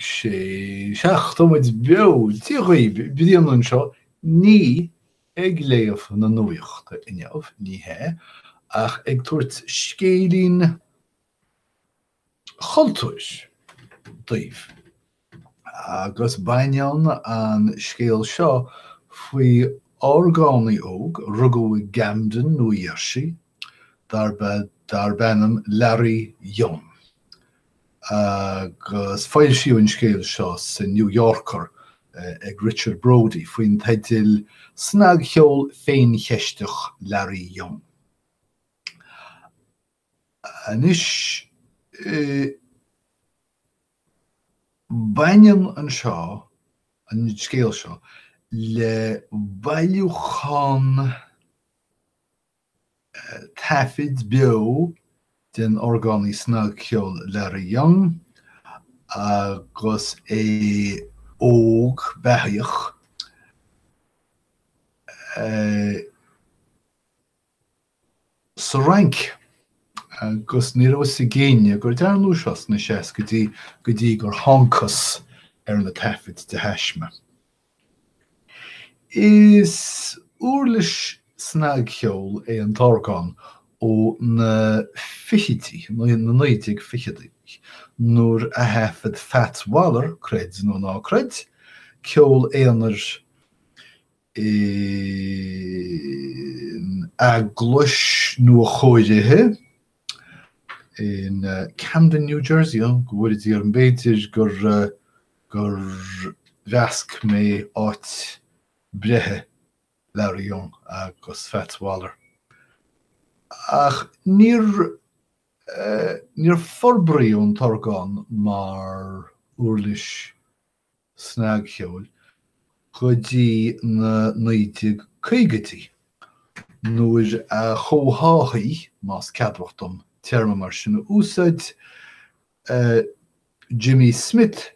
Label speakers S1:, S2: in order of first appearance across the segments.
S1: sé seachtaid beo Dé dhaoibh bliain anseo ní ag léamh na nuaíochta inniu ní hea ach ag tabhairt scéilín chultúir daoibh agus baineann an scéal seo faoi orgánaí óg a rugadh i gCamden Nua Gheirsí darb darb ainm Larry Young agus foilsíodh an scéal seo sa New Yorker ag Richard Brody faoin teideal 'Snagcheol Féincheisteach Larry Young'. Anois, baineann an seo, an scéal seo, le bailiúchán, taifid beo den orgánaí snagcheoil Larry Young agus é óg beathaíoch, sa Fhrainc, agus ní raibh fhios ag éinne gur dearnadh seo sna seascaidí go dtí go dtí gur thángthas ar na taifid de thaisme. Is uirlis snagcheoil é an t-orgán ó na fichidí, na 1920idí, nuair a thaifead Fats Waller, creid nó ná creid, ceol aonair in eaglais nua-chóirithe. in Camden, New Jersey á go bhfóire Dia orm, b'fhéidir gur gur mheasc mé áit breithe Larry Young agus Fats Waller. Ach níor níor forbraíodh an t-orgán mar uirlis snagcheoil go dtí na 1950idí, nuair a chomhtháthaigh, más ceadmhach dom téarma mar sin a úsáid, Jimmy Smith,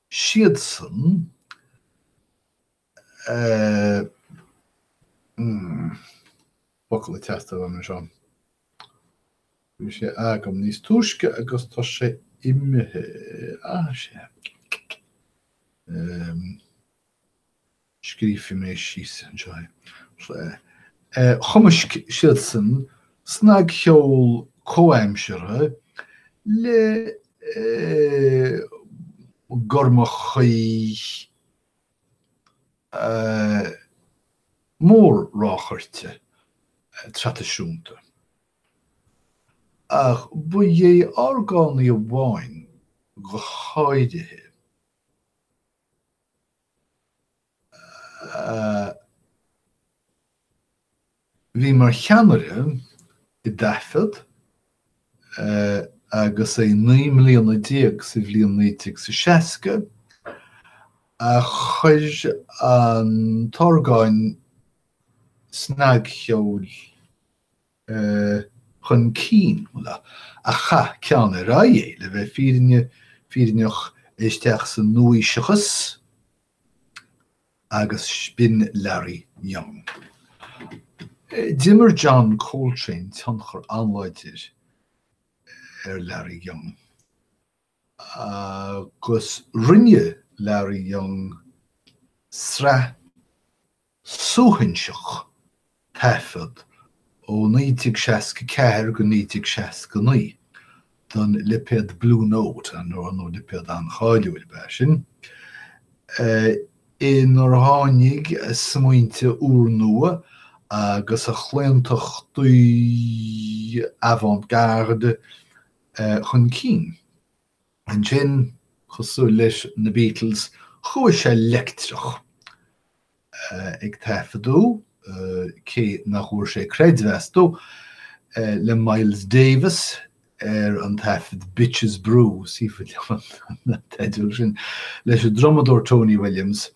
S1: siadsan focal ag teastáil uaim anseo. Bhí sé agam níos túisce agus tá sé imithe. Ah, sé. scríobhfidh mé síos anseo Chumaisc siadsan snagcheol comhaimseartha le gormachaigh mór-ráchairte traidisiúnta. Ach ba é orgánaí amháin go háirithe. bhí mar cheannaire i dtaifead agus é naoi mbliana déag sa bhliain naoi déag is a seasca, a chuir an t-orgán snagcheoil chun cinn, a chaith ceann ar aghaidh é, le bheith fírinneach, isteach sa nua-aoiseachas agus b'in Larry Young. D'imir John Coltrane tionchar an-láidir ar Larry Young agus rinne Larry Young sraith suaithinseach taifead ó 1964 go 1969 don lipéad Blue Note, ar ndóigh lipéad an-cháiliúil ab ea sin, inar tháinig a smaointe úrnua agus a chlaontachtaí avant-garde chun cinn. Ansin, cosúil leis na Beatles, chuaigh sé leictreach, ag taifeadadh cé nach bhfuair sé creidmheas astu, le Miles Davis ar an taifead Bitches Brew, is fuath liom an teideal sin, leis an drumadóir Tony Williams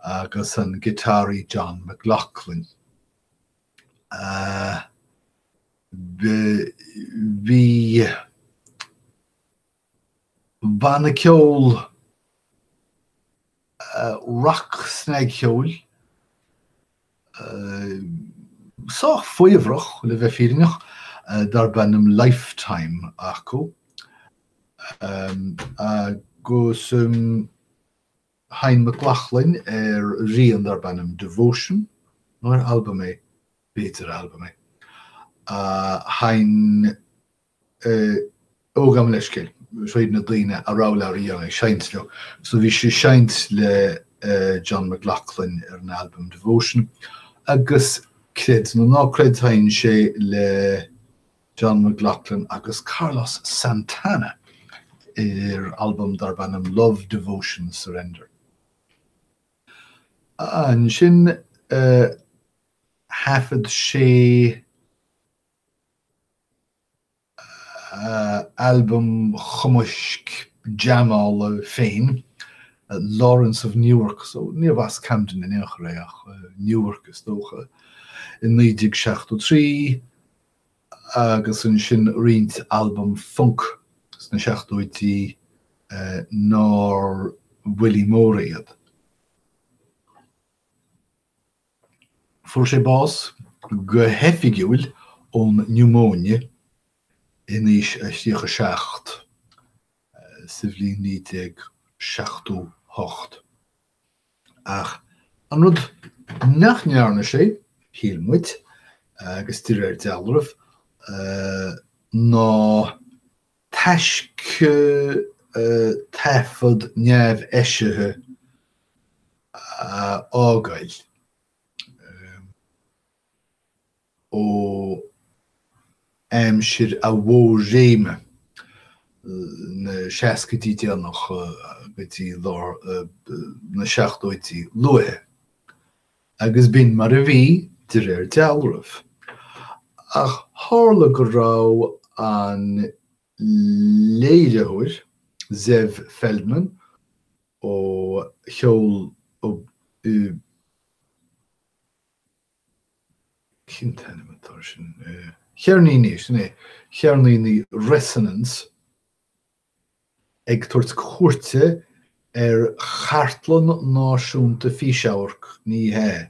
S1: agus an giotáraí John McLaughlin. Bhí. Banna ceoil rac-snagcheoil, sách faobhrach le bheith fírinneach, darb ainm Lifetime acu agus sheinn McLaughlin ar rian darb ainm Devotion, nó ab albam é, b'fhéidir albam é, a sheinn. ó gabh mo leithscéal fríd na daoine a rabh Larry Young ag seinnt leo. So bhí sé ag seinnt le John McLaughlin ar an albam Devotion agus creid nó ná creid sheinn sé le John McLaughlin agus Carlos Santana ar albam darb ainm Love, Devotion, Surrender. Ansin thaifead sé. albam chumaisc jamála dá chuid féin, Lawrence of Newark, so níorbh as Camden in aon chor é ach Newark is dócha, i 1973 agus ansin roinnt albam func sna seachtóidí nár bhuillí móra iad. Fuair sé bás go hoifigiúil ón niúmóine in aois a thríocha seacht, sa bhliain 1978. Ach an rud nach ndearna sé, shíl muid, agus de réir dealraimh, ná Taisce taifead neamheisithe a fhágáil ó aimsir a mhór-réime, na seascaidí déanacha go dtí tús, lár na seachtóidí luaithe. Agus b'in mar a bhí, de réir dealraimh. Ach tharla go raibh an léiritheoir, Zev Feldman, ó cheol ó, cén t-ainm atá ar sin, Cheirníní, sin é, Cheirníní Resonance, Ag tabhairt cuairte ar Chartlann Náisiúnta Físe-amharc, ní hea,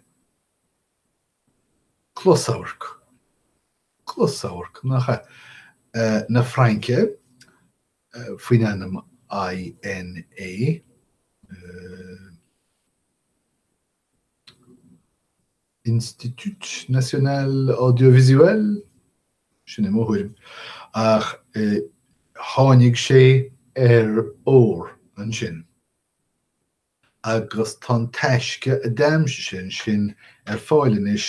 S1: Closamhairc, Closamhairc, nach ea? na Fraince, faoin ainm INA, Institut National Audiovisuel, sin é mo thuairim, ach tháinig sé ar ór ansin. Agus tá an taisce a d'aimsigh sé ansin ar fáil anois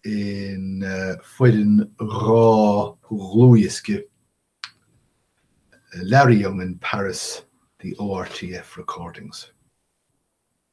S1: i bhfoireann dhá dhlúthdhiosca, Larry Young in Paris, The ORTF Recordings.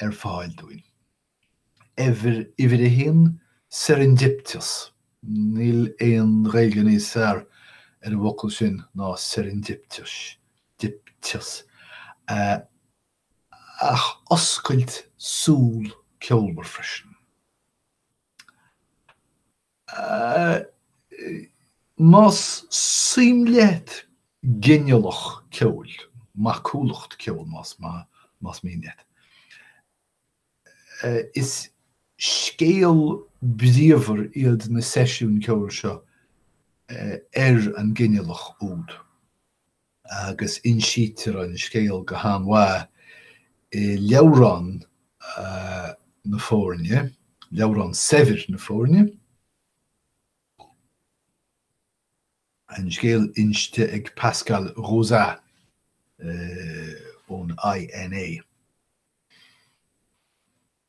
S1: ar fáil dúinn. Uimhir a haon, serendipitous. Níl aon Ghaeilge níos fearr ar an bhfocal sin ná serendipitous. Ach oscailt súl ceolmhar freisin. Más suim leat ginealach ceoil, macúlacht ceoil más mian leat, is scéal bríomhar iad na seisiúin ceoil seo ar an nginealach úd. agus insítear an scéal go han-mhaith i leabhrán na foirne, leabhrán saibhir na foirne, an scéal inste ag Pascal Rosat ón INA.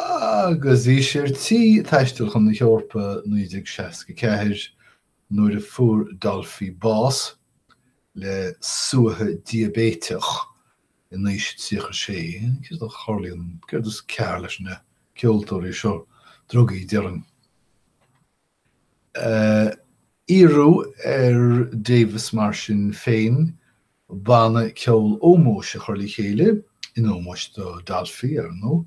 S1: Agus bhí sé ar tí taisteal chun na hEorpa i 1964 nuair a fuair Dolphy bás, le suaitheadh diaibéiteach, in aois 36. Céard a tharlaíonn, céard is cearr leis na ceoltóirí seo, drugaí, déarfainn. Iarradh ar Davis mar sin féin banna ceoil ómóis a chur le chéile, in ómós do Dolphy, ar ndóigh,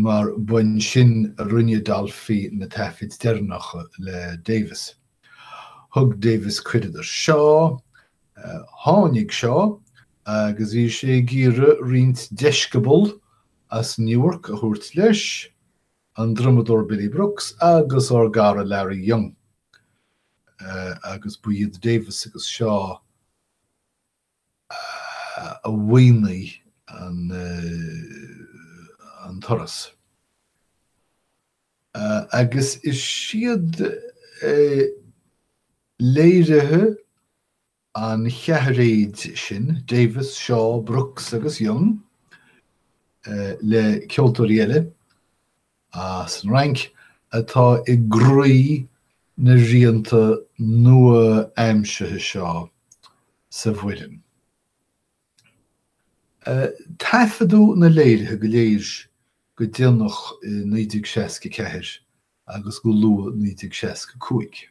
S1: mar ba ansin a rinne Dolphy na taifid deireanacha le Davis. Thug Davis cuireadh do Shaw, tháinig Shaw agus bhí sé ag iarraidh roinnt deisceabal as Newark a thabhairt leis, an drumadóir Billy Brooks agus ár gcara Larry Young, agus ba iad Davis agus Shaw a mhaoinigh an turas. Agus is iad léirithe an cheathairéid sin, Davis, Shaw, Brooks agus Young, le ceoltóirí eile as an Fhrainc, atá i gcroí na rianta nua-aimsithe seo sa bhfoireann. Taifeadadh na léirithe go léir go déanach i 1964 agus go luath 1965.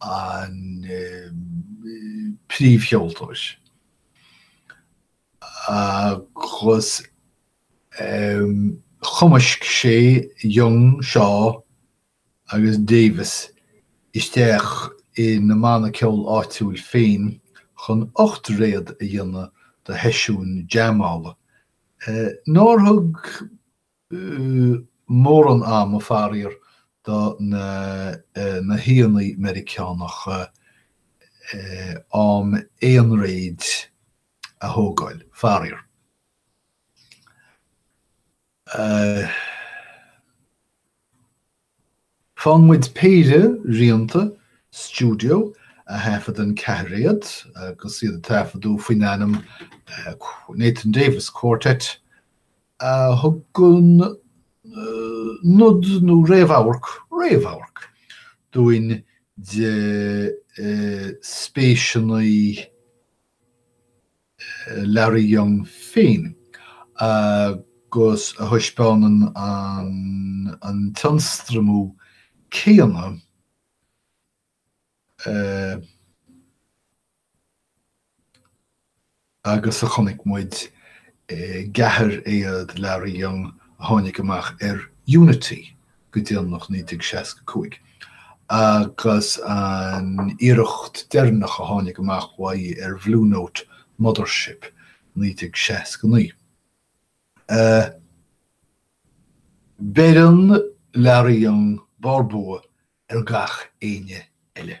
S1: an príomhcheoltóir agus chumaisc sé Young, Shaw agus Davis isteach ina mbanna ceol áitiúil féin chun ocht réad a dhéanamh do sheisiúin jaimeála nár thug mórán ama, faraor, do na haíonna Meiriceánacha am aonréad a thógáil, faraor. Faigheann muid péire rianta, stiúideo, a thaifead in ceathairéad agus iad ar taifeadadh faoin ainm Nathan Davis Quartet, a thugann nod nó réamhamharc, réamhamharc, dúinn de spéiseanna Larry Young féin, agus a thaispeánann an t-ionstraimiú céanna agus a chonaic muid i gceathairéad Larry Young a tháinig amach ar Unity go déanach 1965 agus an iarracht deireanach a tháinig amach uaidh ar Blue Note Mothership 1969. Beireann Larry Young barr bua ar gach éinne eile.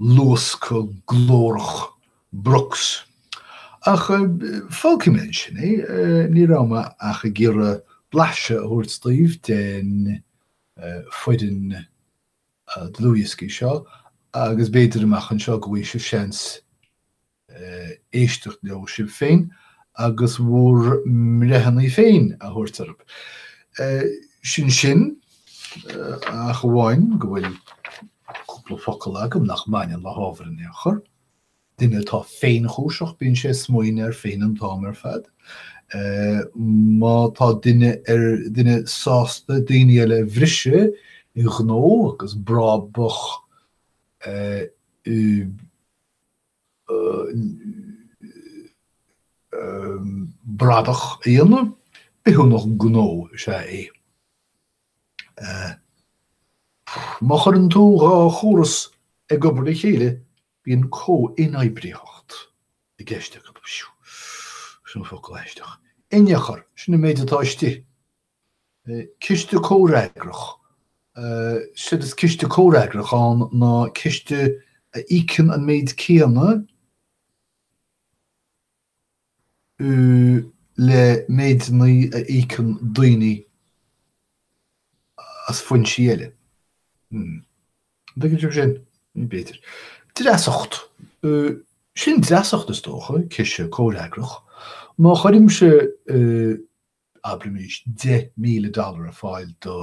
S1: luascadh glórach Brooks. Ach fágfaidh mé ansin é, ní raibh mé ach ag iarraidh blaiseadh a thabhairt daoibh den fhoireann dlúthdhioscaí seo agus b'fhéidir amach anseo go bhfaighidh sibh seans éisteacht leo sibh féin agus bhur mbreitheanna féin a thabhairt orthu. Sin sin, ach amháin go bhfuil cúpla focal agam nach mbaineann le hábhar ar aon chor. Duine atá féinchúiseach, bíonn sé ag smaoineamh air féin an t-am ar fad. Má tá duine ar... duine sásta daoine eile a bhriseadh i ngnó agus brabach, e, bradach a dhéanamh, bithiúnach gnó is ea é. Má chuireann tú dhá chóras ag obair le chéile, bíonn comh-inoibritheacht i gceist acu. Sin focal aisteach. Inneachar, sin an méid atá istigh. Ciste Comhfhreagrach, Séard is Ciste Comhfhreagrach ann ná ciste a íocann an méid céanna le méideanna a íocann daoine as foinsí eile. An dtuigeann sibh sin? B'fhéidir. Dreasacht, Sin dreasacht, is dócha, Ciste Comhfhreagrach. Má chuirimse. abraimis, deich míle dollar ar fáil do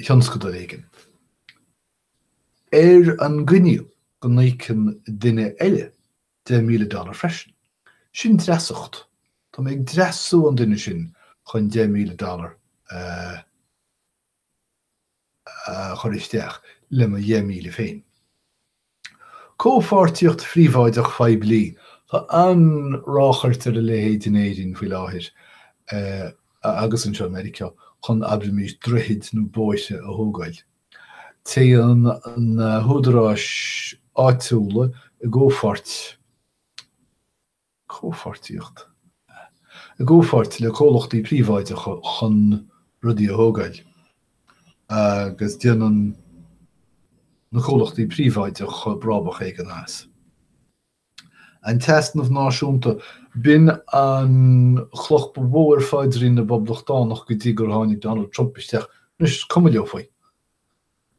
S1: thionscadal éigin, ar an gcoinníoll go n-íocann duine eile deich míle dollar freisin. Sin dreasacht. Tá mé ag dreasú an duine sin chun deich míle dollar a. a chur isteach le mo dheich míle féin. Comhpháirtíocht Phríobháideach Phoiblí, tá an-ráchairt ar a leithéid in Éirinn faoi láthair agus anseo i Meiriceá, chun, abraimis, droichid nó bóithre a thógáil. Téann na húdaráis áitiúla i gcomhpháirt. comhpháirtíocht i gcomhpháirt le comhlachtaí príobháideacha chun rudaí a thógáil agus déanann na comhlachtaí príobháideacha brabach éigin as. An t-easnamh náisiúnta, b'in an chloch ba mhó ar phaidrín na bPoblachtánach go dtí gur tháinig Donald Trump isteach. Anois is cuma leo faoi.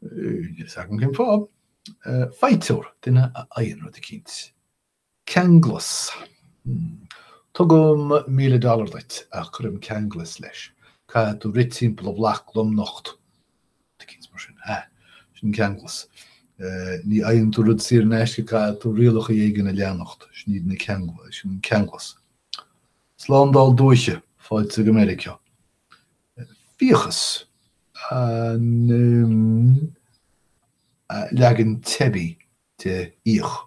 S1: Níl a fhios agam cén fáth. Faighteoir, duine a fhaigheann rud eicínt. Ceanglas. Tugaim míle dollar duit ach cuirim ceanglas leis, caithfidh tú rith timpeall an bhloic lomnocht. Tá coinne mar sin. Sin an ceanglas. Ní fhaigheann tú rud saor in aisce, caithfidh tú rialacha éigin a leanacht, sin iad na ceanglais, sin an ceanglas. Slándáil Dúiche, fáilte go Meiriceá. Fiachas, an leagan teibí de fhiach.